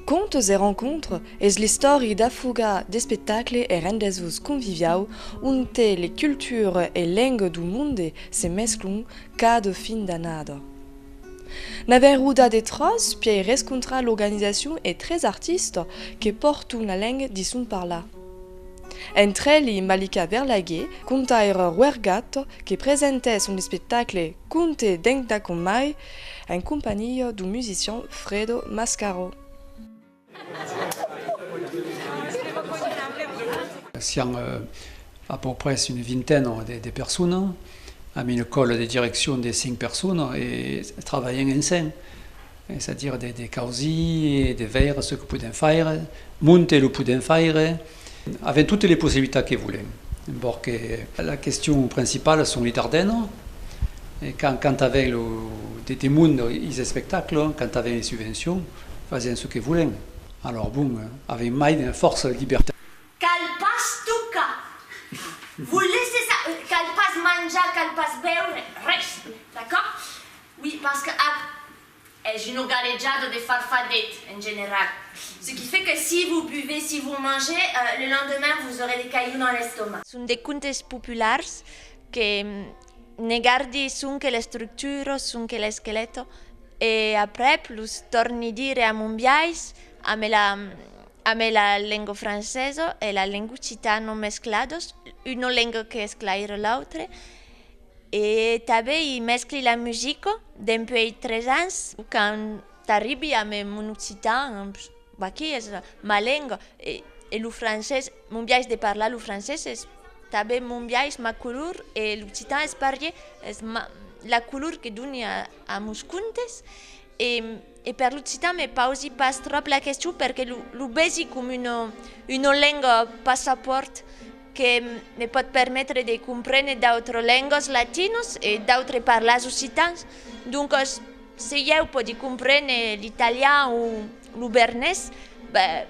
Contes e rencontres es l'istòri d'afuga d'espectacle e rendez-vous conviviau onte le culture e lengue dou monde se mesclon cada fin d'annada. Na verruda de tras piei rescontrar l'organisacion e tres artistes que pòrton la lengue di son parlar. Entre li Malika Verlaghe conta era Wergato que presentè son espectacle Conte d'Enc da Comai en companhia du musician Fredo Mascaro. Sián a pòu pres una vintena de personas, amb una còla de direccion de cinc personas e travalhèn ensenh. es a dire de causir, de veire ce que podem faire, monter lo podem faire, avèm totes les possibilitats que volem, embor que la question principala son li Dardena, e quand quand avèm lo de demond is espectacles, quand avèm les subvencions, fasèm ce que volem, alors bon, avèm mai de fòrça de libertat. Cal pas tocar, vos laisser ça, cal pas manjar, cal pas beure, res, d'accord? Oui, parce que ac es une galejada de farfadet, en general. Ce qui fait que si vous buvez, si vous mangez, le lendemain vous aurez des cailloux dans l'estomac. Son de contes populars que ne gardi sonque l'estructura, sonque l'esqueleto, e aprèp los tòrni dire a mon biais, ambe la ambe la lenga francesa e la lenga occitana mescladas, una lenga que esclaire l'autre. E tanben i mescli la musica dempuèi tres ans, quand t'arribi a me mon occitan, vaquí es ma lenga, e lo francés, mon biais de parlar lo francés es tanben mon biais, ma color, e l'occitan es parlé, es ma la color que doni a mos contes e. E per l'occitan me pausi pas tròp la question perque lo vesi com una lenga passapòrt que me pòt permetre de comprene d'autres lengas latinos e d'autres parlars occitans. Doncas se ieu pòdi comprene l'italian o lo bernés, ben,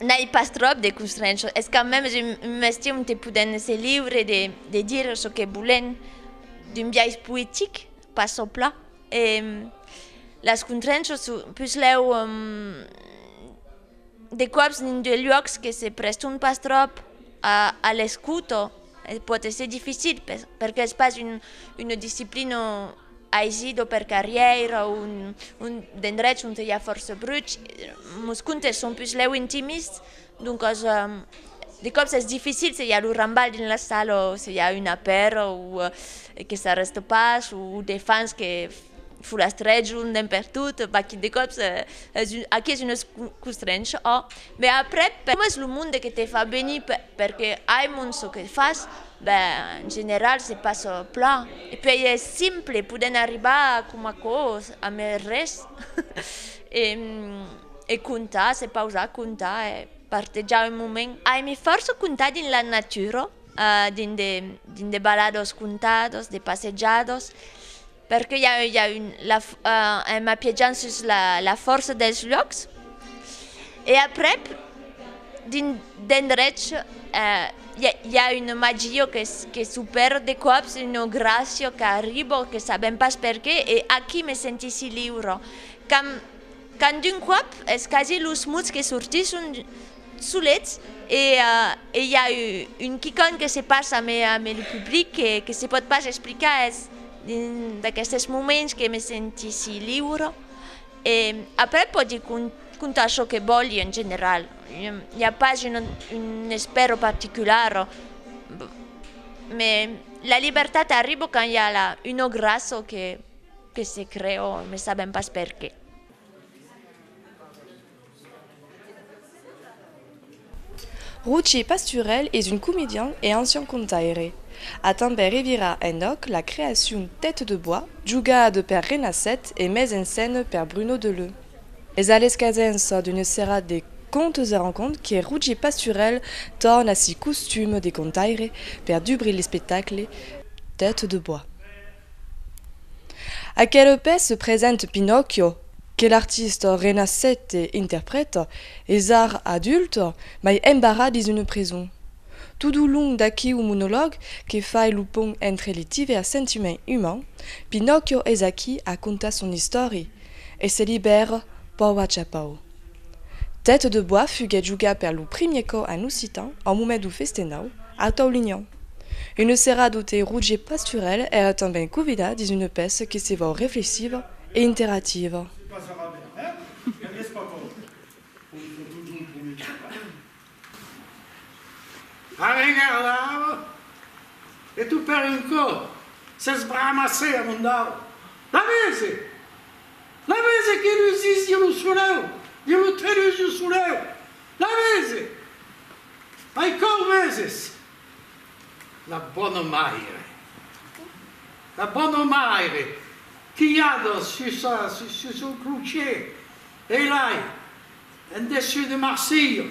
N'ai pas tròp de constrenchos, es quand mèmes un mestier onte poden èsser liure de dire çò que volen d'un biais poetic, pas çò pla. E las constrenchos son puslèu de còps dins de luòcs que se prèston pas tròp a l'escouto e pòt èsser dificil perque es pas una disciplina Aisi, do per carrièira o un d'endrechs onte i a fòrça bruch, mos contes son pus lèu intimists, doncas de còps es dificil se i a lo rambal dins la sala o se i a una pèra o que s'arrèsta pas o de fans que folastrèjon d'un per tot, vaquí de còps es aqui es una costrencha òh. Mès aprèp coma es lo monde que te fa venir perque ai mon çò que fas, Ben, en general se passa plan. E puèi es simple, podèm arribar coma aquò a mai res e comptar, se pausar, comptar e partejar un moment. Aimi fòrça comptar dins la natura, dins de baladas comptadas, de passejadas. Perque i a un en m'apiejant sus la fòrça dels luòcs e aprèp d'endrech i a un magio que s'opèra de còps, una gràcia qu'arriba que sabèm pas perqué e aquí me sentissi liura. Quand d'un còp es quasi los muts que sortisson solets e i a un quicòm que se passa ame lo public que se pòt pas explicar, es dins d'aquestes moments que me senti si liure e après pòdi contar çò que vòli en general, i a pas un espèro particular, me la libertat arriba quand i a un òc ras o que. Que se creò, ne sabèm pas perqué. Rogier Pasturèl es un comedian e ancian contaire. A tanben revirar enòc la creacion Tête de bois, jogada per Renasset e mes en scène per Bruno Deleu. Es a l'escadença d'una serada de contes e rancont que Rogier Pasturèl torna si costum de contaire per dubrir l'espectacle Tête de bois. Aquel pes se presente Pinòcchio, que l'artist renaissete interpreta esar adult mai embarrat dins una prison. Tot au long d'aqueu monolog que fai lo pont entre li divers sentiments umans, Pinòcchio es aquí a contar son istòria e se libèra pauc a pauc. Tête de bois fuguèt jogat per lo primier còp en occitan au moment du festenau a Taulignan. Une serada ute Roger Pasturel èra tanben convidat dins une pèça que se vòu reflexiva e interativa. Arregalava e tu per un còp se sbramassè amondau. La vese! La vese que lusís jo lo soleu, jo lo trenus jo soleu! La vese! Ai còu veses! La bona maire! La bona maire, quilhada sus son clocher, ei lai! En dessus de Marsilha.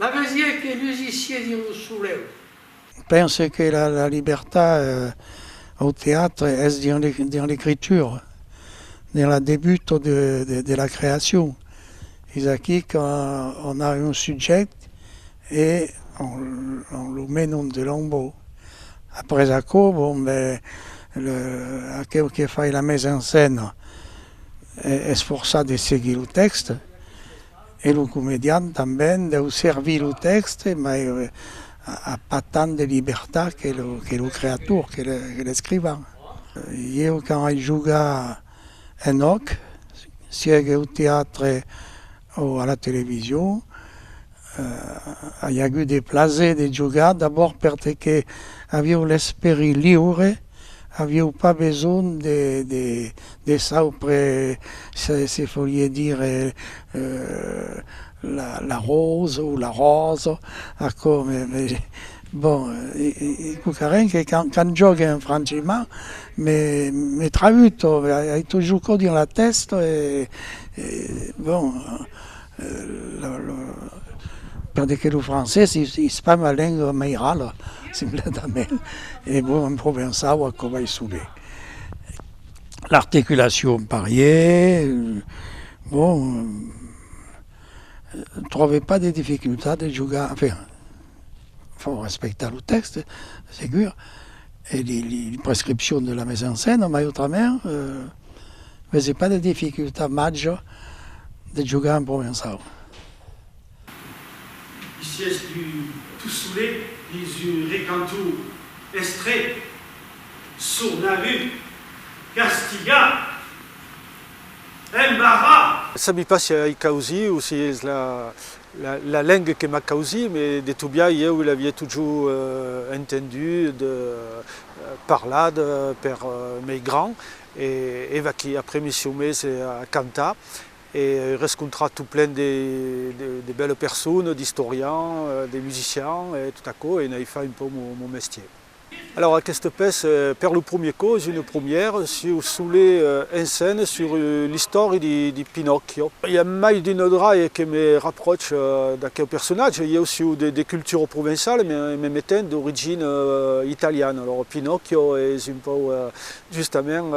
La vesié que lusissié dins lo soleu. Pense que la libertat au teatre es dins l'ecritura, dins la debuta de la creacion. Es aquí qu'an a un subjèct e an lo menon de l'enbau. Après aquò, bon, ben, aqueu que fai la mesa en scèna. esforçar de seguir lo tèxte e lo comedian tanben deu servir lo tèxte mai a pas tant de libertat que lo creator, que l'escrivan. Ieu quand ai jogat en òc, sièc eu teatre, O a la television, a i agut de plaser de jogar, d'abòrd perté que avieu l'esperi liure, avieu pas besonh de de de saupre se se folie dire la la rose ou la ròsa, aquò me me Bon, ei quauquarren que quand jògue en franchimar me traüt o ei totjor quò dins la tèsta e bon, per de que lo francés es pas ma lenga mairala, simpletament, e bon, en provençau aquò vai subir. L'articulacion parièr, bon, tròbe pas de dificultat de jogar, enfin, fò respectar lo tèxte, segur, e li, li prescripcion de la mesa en scèna, mai autrament, vese pas de dificultat màger de jogar en provençau. Ici es du tout solet dins un recanton estret, sornalhut, castigat, embarrat! Sabi pas si ai causí o si es la. La lengue que m'a causi me de tobiar ieu l'avie totjou entendut parlat per mei grand e eva qui après me sieu mes a cantar e ai rescontrat tot plen de belle personnes, d'istorians, de musicians e tot aquò e n'ai fai un peu mon mestier. Alòrs aqueste pes per lo promier cò es une promière sieu solet ensene sur l'istòri de Pinòcchio. I a mai d'una draie que me rapròch d'aqueu personatge, ieu sieu de cultura provençala me metent d'origina italiana, alòrs Pinòcchio es un pòu justament.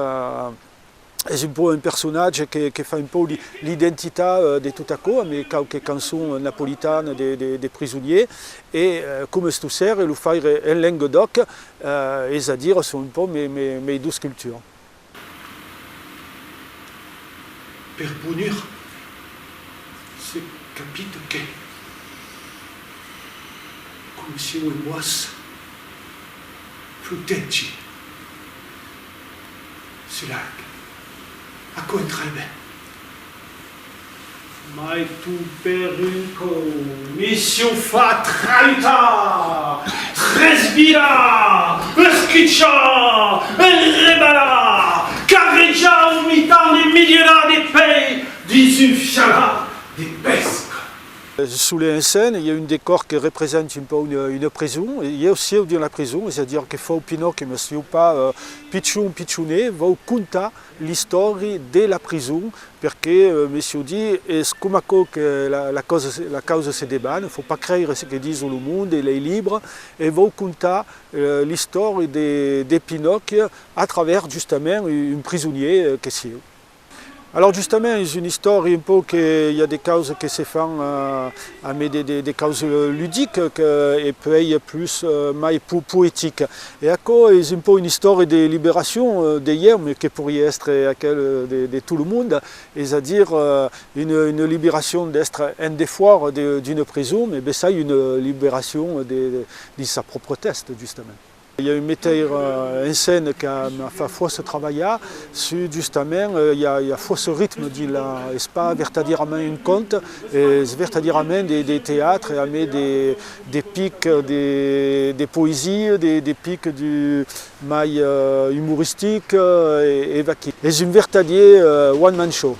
es un pòu un personatge que fa un pòu l'identitat de tot aquò amb quauque cançon napolitana de prisonier e coma estossèr lo faire en Lenguedoc es a dire son un pòu mei dus cultures. Per punir se capit que coma sieu en boas flotègi Se largue. Aquò en trai ben. Mai tu per un còu. Mission fatra uta! Tres via! Escuchar! Enrebalar! Carrejar au mitan de milierats de pei dins un fialar de pesca! Sous les enseignes, i a un decòr que represente un pauc una preson. Ieu sieu dins la preson, es a dire que fau Pinoque, mas sieu pas pichon, pichonè, vau contar l'istòri de la preson, perque, me sieu dit, es coma aquò que la causa se deban, fau pas creire ce que dison lo monde e lei libres, e vau contar l'istòri de Pinoque a travèrs justament un prisonier que sieu. Alòrs justament es un istòri un pauc que i a de causes que se fan a mai de causes ludiques e puèi plus mai poetiques e aquò es un pauc un istòri de liberacion de ieu me que poiriá èstre aquel de tot lo monde es a dire una liberacion d'èstre en defòra d'una prison me bessai una liberacion dins sa pròpria tèsta justament. I a un meteir en scène que me fa fòrça trabalhar sus justament, i a fòrça ritme dins la, es pas vertadièrament un cònte, es vertadièrament de teatre, a mai de pic de poesia, de pic mai umoristic, e vaquí. Es un vertadier one man show.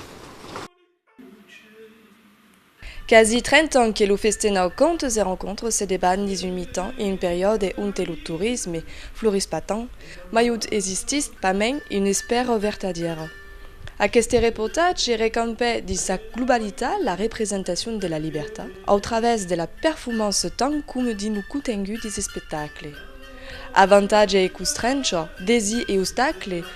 Quasi trenta ans que lo Festenau Contes et Rencontres se debat dins un mitan e un periòde onte lo torisme florís pas tant, mai ont existís pas mens una espèra vertadièra. Aqueste reportatge recampè dins sa globalitat la representacion de la libertat au travèrs de la perfumança tant coma dins lo contengut des espectacles. Avantatge e constrencha, desir e ostacles,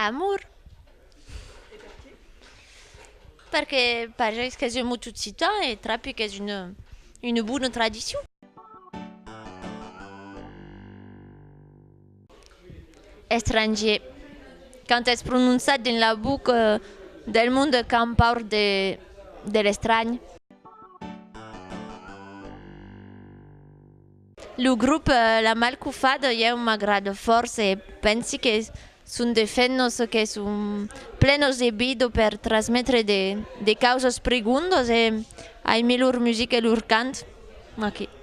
Amor. E per qué? Perque pajais qu'es un mot occitan e trapi qu'es una una bona tradicion. Estrangier. Quand es prononçat dins la buc del monde qu'an paur de l'estranh. Lo grop La Mal Qu'o Fad ieu m'agrada fòrça e pensi que son de fennos que son plenos de vida per trasmetre de causas prigondas e aimi lor musica e lor cant.